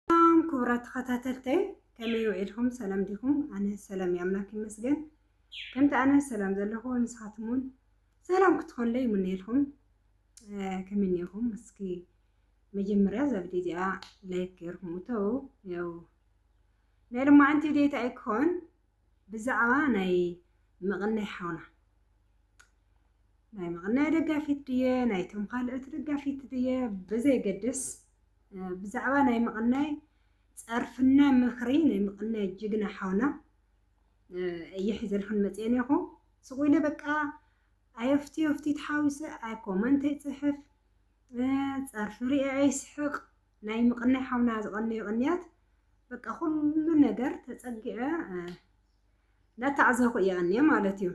ሰላም ክቡራት ተኸታተልተይ ከመይ ውዒልኩም ሰላም ዲኹም? ኣነ ሰላም እዩ ኣምላክ ይመስገን። ከምቲ ኣነ ሰላም ዘለኹ ንስኻትም እውን ሰላም ክትኾንለይ ይምነየልኩም። ከመይ እኒኹም? እስኪ መጀመርያ እዛ ቪድዮ እዚኣ ላይክ ገይርኩም እተው። ያው ናይ ሎማዓንቲ ቪድዮ ኣይኮን ብዛዕባ ናይ መቐናይ ሓውና ናይ መቐናይ ደጋፊት ድየ ናይቶም ካልኦት ደጋፊት ድየ ብዘይገድስ ብዛዕባ ናይ መቐናይ ጸርፍና ምኽሪ ናይ መቐናይ ጅግና ሓውና እየ ሒዘልኩን መጽየ ኔኹ ስቑ ኢለ በቃ ኣየፍቲ የፍቲ ተሓዊሰ ኣይ ኮመንት ኣይጽሕፍ ጸርፊ ርእየ ኣይስሕቕ ናይ ምቕናይ ሓውና ዝቐነዮ ቅንያት በቃ ኩሉ ነገር ተጸጊዐ ናተዓዘኹ እየ ኣንየ ማለት እዩ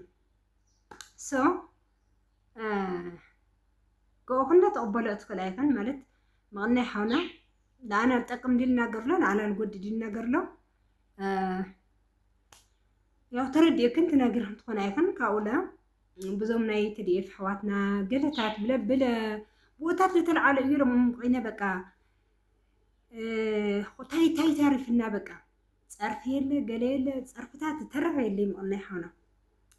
ሶ ገኦ ኩላ ተቕበሎ እትኽእል ኣይፈን ማለት ምቕናይ ሓውና ንኣና ዝጠቅም ድል እናገርሎ ንኣና ንጎዲ ድል እናገርሎ ያው ተረዲእክን ትነግርክን ትኾን ኣይፈን ካብኡለ ብዙም ናይ ትድኤፍ ኣሕዋትና ገለታት ብለ ብለ ቦታት ለተልዓለ እዩ ሎም ኮይነ በቃ ታይ ታይ ታሪፍና በቃ ፀርፊ የለ ገለ የለ ፀርፍታት ተረፈ የለ ምቕናይ ሓውና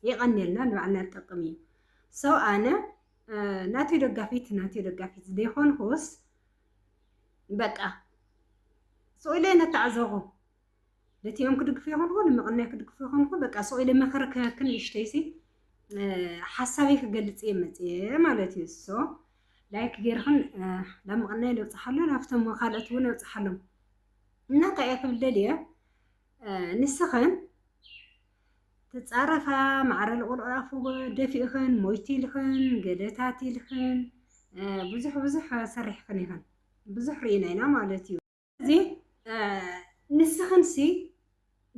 የቐኒልና ንባዕልና ንጠቅም እዩ ሰው ኣነ ናትዮ ደጋፊት ናትዮ ደጋፊት ዘይኮንኩስ በቃ ስኡለ ነተዓዘኹ ልቲኦም ክድግፉ ይኾንኹ ንምቕናይ ክድግፉ ይኾንኹ በቃ ሱቕ ኢለ መኸረ ክህክን ይሽተይሲ ሓሳበይ ክገልጽ እየ መፅየ ማለት እዩ እሶ ላይክ ጌርኽን ናብ ምቕናይ ነብፅሓሎ ናብቶም ካልኦት እውን ነብፅሓሎም እና እንታይ እየ ክብል ደልየ ንስኽን ትፃረፋ ማዕረ ልቑል ኣፉ ደፊእኽን ሞይቲ ኢልኽን ገለታት ኢልኽን ብዙሕ ብዙሕ ሰሪሕኽን ኢኽን ብዙሕ ርኢና ኢና ማለት እዩ እዚ ንስኽንሲ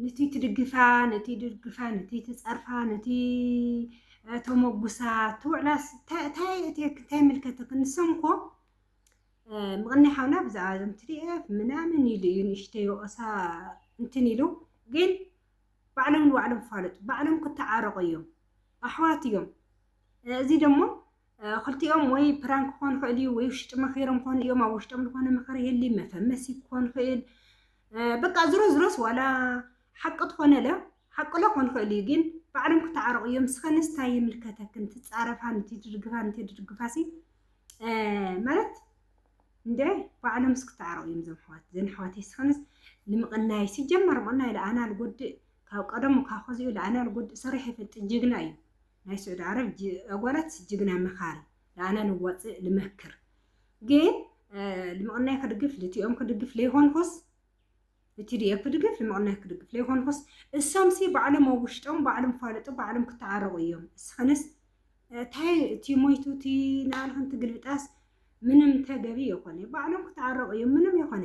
ነቲ ትድግፋ ነቲ ድግፋ ነቲ ትፀርፋ ነቲ ተመጉሳ ትውዕላስ እንታይ ምልከትክ ንሶም እኮ ምቕናይ ሓውና ብዛዕባ እዞም ትዲኤፍ ምናምን ኢሉ እዩ ንእሽተይ ወቐሳ እንትን ኢሉ ግን ባዕሎም ንባዕሎም ፋለጡ ባዕሎም ክተዓረቑ እዮም ኣሕዋት እዮም እዚ ደሞ ክልቲኦም ወይ ፕራን ክኾን ይኽእል እዩ፣ ወይ ውሽጢ መኺሮም ክኾኑ እዮም። ኣብ ውሽጦም ዝኾነ ምኽሪ ይህሊ መፈመሲ ክኾን ይኽእል። በቃ ዝሮ ዝሮስ ዋላ ሓቂ ትኾነለ ሓቅሎ ክኾን ይኽእል እዩ፣ ግን ባዕሎም ክተዓረቑ እዮም። ስኸንስ ታይ ይምልከተክን ትፃረፋ ንቲ ድርግፋ ንቲ ድርግፋ ሲ ማለት እንደ ባዕሎም ስክተዓረቑ እዮም ዘም ሕዋት ዘን ሕዋት ስኸንስ ንምቕናይ ሲጀመር ምቕናይ ለኣና ልጎድእ ካብ ቀደሙ ካብ ከዚኡ ለኣና ልጎድእ ሰሪሕ ይፈልጥ ጅግና እዩ። ናይ ስዑዲ ዓረብ ኣጓላት ጅግና መኻሪ ለኣና ልዋፅእ ልመክር ግን ልምቕናይ ክድግፍ ልቲኦም ክድግፍ ለይኮንኩስ ልቲዲኤፍ ክድግፍ ልምቕናይ ክድግፍ ለይኮንኩስ እሶምሲ ባዕሎም ኣብ ውሽጦም ባዕሎም ፋለጡ ባዕሎም ክተዓረቑ እዮም እስኸንስ ታይ እቲ ሞይቱ እቲ ናልኸንቲ ግልብጣስ ምንም ተገቢ የኮነ ባዕሎም ክተዓረቑ እዮም ምንም የኮነ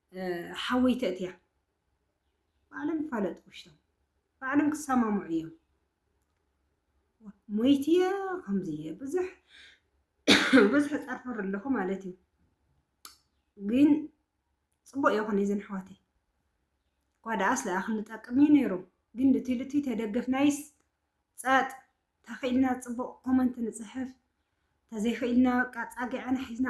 ሓወይ ተእትያ ባዕሎም ይፋለጡ ውሽቶም ባዕሎም ክሰማምዑ እዮም ሞይቲ እየ ከምዚ እየ ብዙሕ ብዙሕ ጸርፈር ኣለኹ ማለት እዩ ግን ፅቡቅ ይኹን እዘን ኣሕዋተይ እኳ ደኣስ ደኣ ክንጠቅም እዩ ነይሩ ግን ልቲ ልቲ ተደገፍናይስ ፀጥ ተኽኢልና ፅቡቅ ኮመንት ንፅሕፍ ተዘይኽኢልና በቃ ፃጊዐና ሒዝና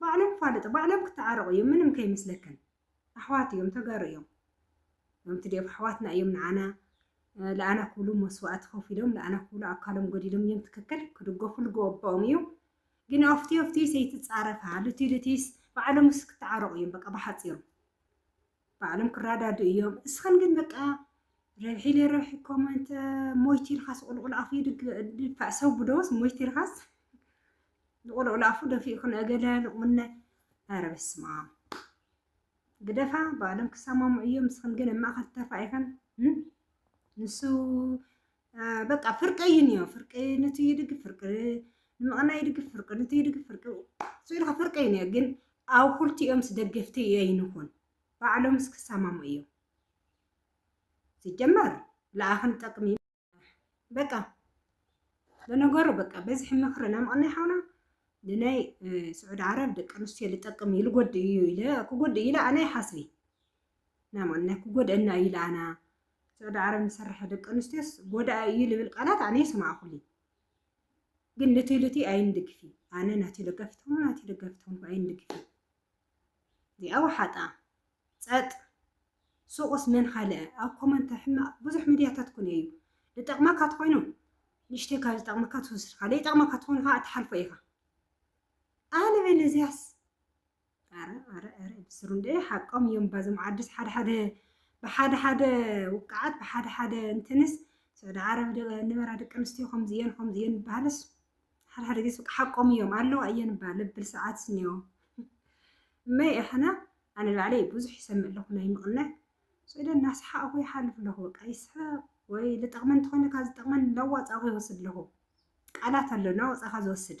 ባዕሎም ፋልጥ ባዕሎም ክተዓረቁ እዮም ምንም ከይመስለክን ኣሕዋት እዮም ተጋሩ እዮም እዞም ትዴፍ ኣሕዋትና እዮም ንዓና ለኣና ክብሉ መስዋእቲ ከፊሎም ለኣና ክብሉ ኣካሎም ጎዲሎም እዮም ትክክል ክድገፉ ልግበኦም እዩ ግን ኣፍቲ ኣፍቲ ሰይትፃረፋ ልቲ ልቲስ ባዕሎምስ ክተዓረቁ እዮም በቃ ብሓፂሩ ባዕሎም ክራዳድኡ እዮም እስኸን ግን በቃ ረብሒ ለረብሒ ኮመንተ ሞይቲ ኢልኻስ ቁልቁል ኣፉ ይድፋእ ሰው ብዶስ ሞይቲ ኢልኻስ ንቁልቁል ኣፉ ደፊኡ ክነእገለ ንቁምነ ኧረ በስመ ኣብ ግደፋ ባዕሎም ክሰማሙ እዮም እስኸን ግን ኣብ ማእኸል ተፋኢኸን ንሱ በቃ ፍርቂ እዩ እኒኦ ፍርቂ ንቲ ይድግፍ ፍርቂ ንምቕና ይድግፍ ፍርቂ ንቲ ይድግፍ ፍርቂ ስኢልካ ፍርቂ እዩ እኒኦ ግን ኣብ ኩልቲኦምስ ደገፍቲ ኣይንኹን ባዕሎምስ ክሰማሙ እዮም ሲጀመር ለኣኽን ጠቅሚ በቃ ለነገሩ በቃ በዝሒ ምኽሪ ናይ ምቕናይ ሓውና ንናይ ስዑድ ዓረብ ደቂ ኣንስትዮ ልጠቅም እዩ ልጎድእ እዩ ኢለ ክጎድእ ኢለ ኣነ ይሓስቢ ናይ ማንና ክጎድኣና እዩ ለኣና ስዑዲ ዓረብ ንሰርሐ ደቂ ኣንስትዮስ ጎዳኢ እዩ ልብል ቃላት ኣነ ይሰማዕኩሊ ግን ልቲ ልቲ ኣይንድግፊ ኣነ ናቲ ደጋፊት ሆኑ ናቲ ደጋፊት ሆንኩ ኣይንድግፊ እዚኣ ወሓጣ ጸጥ ሱቕስ መን ካልአ ኣብ ኮመንት ሕማቕ ብዙሕ ሚድያታት ኩን እዩ ዝጠቕመካ ትኮይኑ ንሽተይ ካብ ዝጠቕመካ ትወስድካ ዘይጠቕመካ ትኾኑ ከዓ እትሓልፎ ኢኻ ኣነ በለ እዚያስ ኣረ ኣረ ኣረ ብስሩ እንደ ሓቆም እዮም ባዞም ዓድስ ሓደ ሓደ ብሓደ ሓደ ውቃዓት ብሓደ ሓደ እንትንስ ስዑዲ ዓረብ ንበራ ደቂ ኣንስትዮ ከምዚ እየን ከምዚ እየን ዝበሃልስ ሓደ ሓደ ግዜ በቃ ሓቆም እዮም ኣለዋ እየን እባ ልብል ሰዓት ስኒዮ እመይ እሕና ኣነ ባዕለይ ብዙሕ ይሰምዕ ኣለኹ ናይ ምቕናዕ ስዑዲ እናሰሓቕኹ ይሓልፍ ኣለኹ በቃ ይስሕቕ ወይ ዝጠቕመን እንተኾይኑ ካብ ዝጠቕመን ለዋፃኹ ይወስድ ኣለኹ ቃላት ኣሎ እናወፃኻ ዝወስድ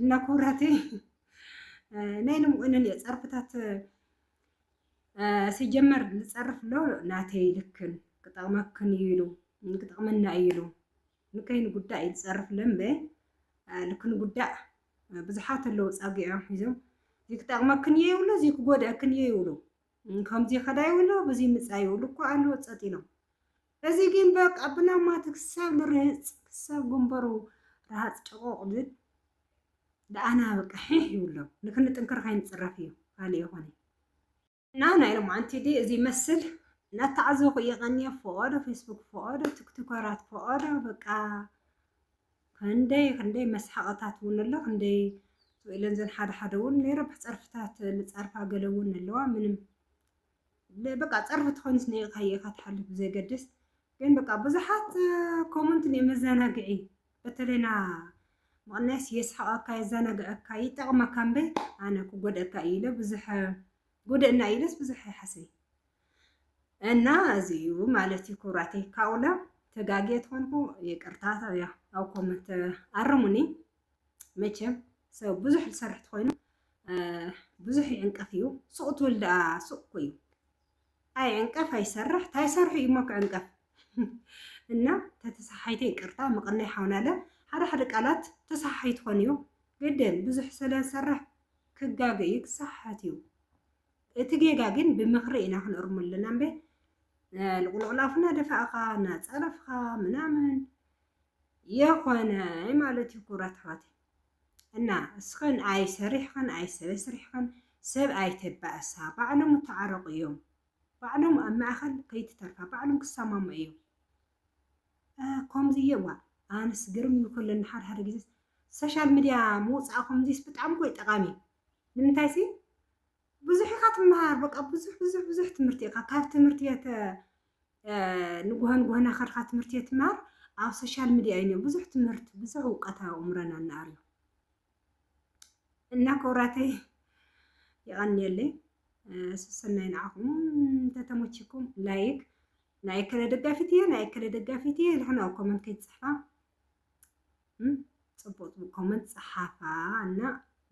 እና ኩራቴ ናይ ንምኡንን እየ ፀርፍታት ሲጀመር ዝፀርፍ ኣሎ ናተይ ልክን ክጠቕመክን እዩ ኢሉ ክጠቕመና እዩ ኢሉ ንከይን ጉዳይ እዩ ዝፀርፍ ለምበ ልክን ጉዳእ ብዙሓት ኣለዉ ፃጊዖም ሒዞም እዚ ክጠቕመክን እየ ይብሉ እዚ ክጎድአክን እየ ይብሉ ከምዚ ከዳ ይብሉ ብዙ ምፃ ይብሉ እኮ ኣለዎ ፀጥ ኢሎም እዚ ግን በቃ ብናማት ክሳብ ንርህጽ ክሳብ ግንበሩ ረሃጽ ጨቆቕ ዝብ ደኣና በቃ ሒሕ ይብሎ ንክንጥንክር ከይንጽረፍ እዩ ካልእ የኾነይ። እና ናይ ሎምዓንቲ ዲ እዚ ይመስል ናተዓዘኹ እየ ቀንየ ፎኦዶ ፌስቡክ ፎኦዶ ቲክቶከራት ፎኦዶ በቃ ክንደይ ክንደይ መስሓቕታት እውን ኣሎ ክንደይ ኢለን ዘን ሓደ ሓደ እውን ናይ ረብሕ ጸርፍታት ልጸርፋ ገለ እውን ኣለዋ ምንም በቃ ጸርፊ ተኾይኑስ ንኢልካዮ ኢኻ ትሓልፍ ብዘገድስ ግን በቃ ብዙሓት ኮመንት ን መዘናግዒ በተለይ ና ምቕናስ የስሕቐካ የዘናግዐካ ይጠቕመካ እምበይ ኣነ ክጎድአካ እዩ ኢለ ብዙሕ ጉድእና እዩ ኢለስ ብዙሕ ይሓሰይ እና እዚ እዩ ማለት እዩ ክብራተይ ካብኡለ ተጋግየ ትኾንኩ ይቅርታ ኣብ ኮመንት ኣርሙኒ መቸም ሰብ ብዙሕ ዝሰርሕ ትኾይኑ ብዙሕ ይዕንቀፍ እዩ ሱቕ ትብል ደኣ ሱቕ እኮ እዩ ኣይዕንቀፍ ኣይሰርሕ ታይሰርሑ እዩ እሞ ክዕንቀፍ እና ተተሰሓሓይተ ይቅርታ መቐናይ ሓውናለ ሓደ ሓደ ቃላት ተሰሓሓይ ትኾን እዩ ግድን ብዙሕ ስለ ዝሰርሕ ክጋገ እዩ ክሰሓሓት እዩ እቲ ጌጋ ግን ብምኽሪ ኢና ክንእርሙ ኣለና እምበ ልቁልቁላፍና ደፋእኻ እናፀረፍኻ ምናምን የኾነ ማለት እዩ ክብራት ኣሕዋተይ እና እስኸን ኣይሰሪሕኸን ኣይሰበስሪሕኸን ሰብ ኣይተባእሳ ባዕሎም እተዓረቁ እዮም ባዕሎም ኣብ ማእኸል ከይትተርፋ ባዕሎም ክሰማሙ እዮም ከምዚ እየ ዋ ኣንስ ግርም ይኩለኒ ሓደ ሓደ ግዜ ሰሻል ሚድያ ምውፃእ ከምዚስ ብጣዕሚ ኮይ ጠቃሚ ንምንታይ ሲ ብዙሕ ኢኻ ትመሃር በቃ ብዙሕ ብዙሕ ብዙሕ ትምህርቲ ኢኻ ካብ ትምህርቲ ቤት ንጉሆ ንጉሆ ናኸድካ ትምህርቲ ቤት ትመሃር ኣብ ሶሻል ሚዲያ እዩ ብዙሕ ትምህርቲ ብዙሕ እውቀት ኣእምሮና እናኣርዩ እና ክብራተይ ይቐንየለይ ስሰናይ ንዓኹም ተተመችኩም ላይክ ናይ ከለ ደጋፊት እየ ናይ ከለ ደጋፊት እየ ኢልክን ኣብ ኮመንት ከይትፅሕፋ ፅቡቅ ፅቡቅ ኮመንት ፀሓፋ እና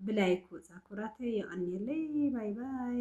ብላይክ ወፃ ኩራተይ የቀንየለይ ባይ ባይ።